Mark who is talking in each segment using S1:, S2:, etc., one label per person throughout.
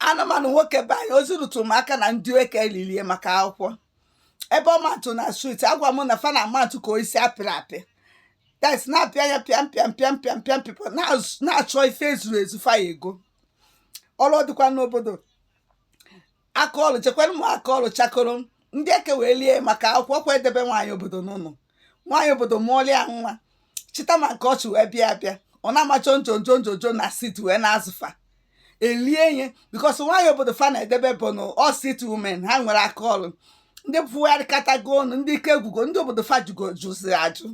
S1: anụmanụ nwoke be anyị ozi ruturu m aka na ndị eke elilie maka akwụkwọ ebe ọ matụ na street agwa m na fa na amatụ ka isi apịrị apị that's na-apịa anya pịam pịam pịam pịam pịam pịpụ na-achọ ife ezuru ezu fa ya ego ọlụ dịkwa n'obodo aka ọlụ chekwanụ m aka ọlụ chakoro ndị eke wee lie maka akwụkwọ kwa edebe nwaanyị obodo n'ụlọ nwaanyị obodo mụọlịa nwa chita ma nke o chi wee bịa bịa ọ na-ama jonjonjonjo na street wee na-azụ fa elie ihe because nwaanyị obodo fa na-edebe bụ na ọ street women ha enwerọ aka ọlụ ndị pụgharịkatago ọnụ ndị ike gwụgo ndị obodo fa jụgo jụziri ajụ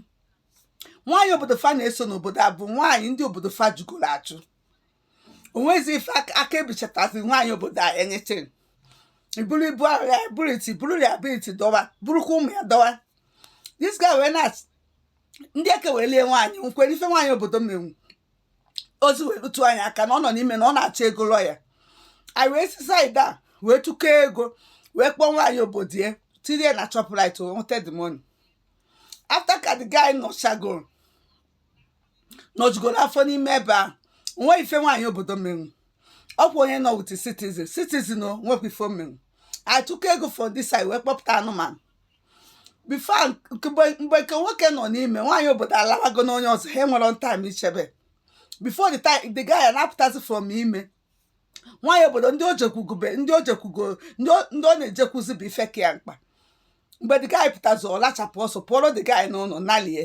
S1: nwaanyị obodo fa na-eso n'obodo a bụ nwaanyị ndị obodo fa jụgoro ajụ o nwezi ife aka ebichatazi nwaanyị obodo a anything iburu ibu ahụ ya buru liability dọwa burukwa ụmụ ya dọwa this guy wee na ndị eke wee lie nwaanyị nkwere ife nwaanyị obodo menwu ozi wee rutu anyị aka na ọ nọ n'ime na ọ na-achọ ego lawyer anyị wee si side a wee tụkọọ ego wee kpọọ nwaanyị obodo ya tinye na Shoprite nweta the money after ka the guy nọchagoro nọjugoro afọ n'ime ebe a o nwe ife nwaanyị obodo menwu ọkwa onye nọ with citizen citizen o nwekwa ife o menwu a tụkọ ego for this side wee kpọpụta anụmanụ before mgbe nke nwoke nọ n'ime nwaanyị obodo alawago n'onye ọzọ ha enwerọ time ichebe before the time the guy na-apụtazi from ime nwaanyị obodo ndị o jekwugube ndị o jekwugo ndị ọ na-ejekwuzi bụ ife ka ya mkpa mgbe the guy pụtazi ọ lachapụ ọsọ pụọrọ the guy n'ụlọ nalie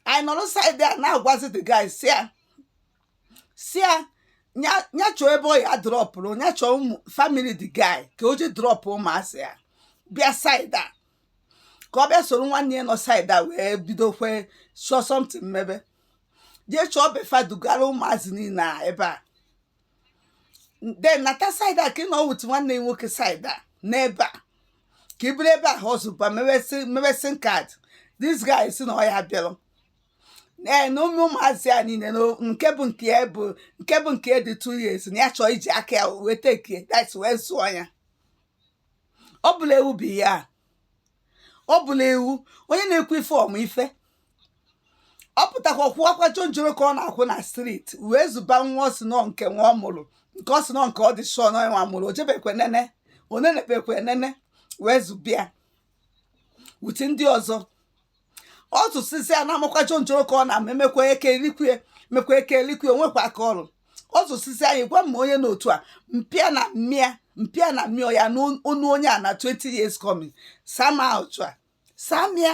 S1: anyị nọrọ side a na-agwazi the guy sị ya sị ya nya- nya chọọ ebe ọ ya drọpụrụ nya chọọ ụmụ family the guy ka o je drọpụ ụmụazị a bịa side a ka ọ bịa soro nwanne ya nọ side a wee bidokwe chọọ something mebe jee chọọ be fa dugara ụmụazị niile a ebe a then nata side a ka ị nọ with nwanne ya nwoke side a n'ebe a ka i biri ebe a họzụba mebe SIM card this guy sị na ọ ya bịarọ ee na ụmụ ụmụazị a niile na nke bụ nke ya bụ nke bụ nke ya dị two years na ya chọọ iji aka ya wee tekie that's wee zụọ ya ọ bụla ewu bụ ya ọ bụla ewu onye na-ekwu ife ọ mụ ife ọ pụtakwa kwụwakwa jonjoro ka ọ na-akwụ na street wee zụba nwa ọ sị na ọ nke nwa ọ mụrụ nke ọ sị na ọ nke ọ dị sure na ọ nwa mụrụ o jebekwe nene onenebekwe nene wee zụba ya with ndị ọzọ ọ zụsịzịa na-amakwa jonjoro ka ọ na-ama mekwa eke elikwe mekwa eke elikwe o nwekwa aka ọrụ ọ zụsịzị anyị gwa m onye n'otu a mpịa na mmịa mpịa na mmịọ ya n'ọnụ onye a na 20 years coming sama otu a samia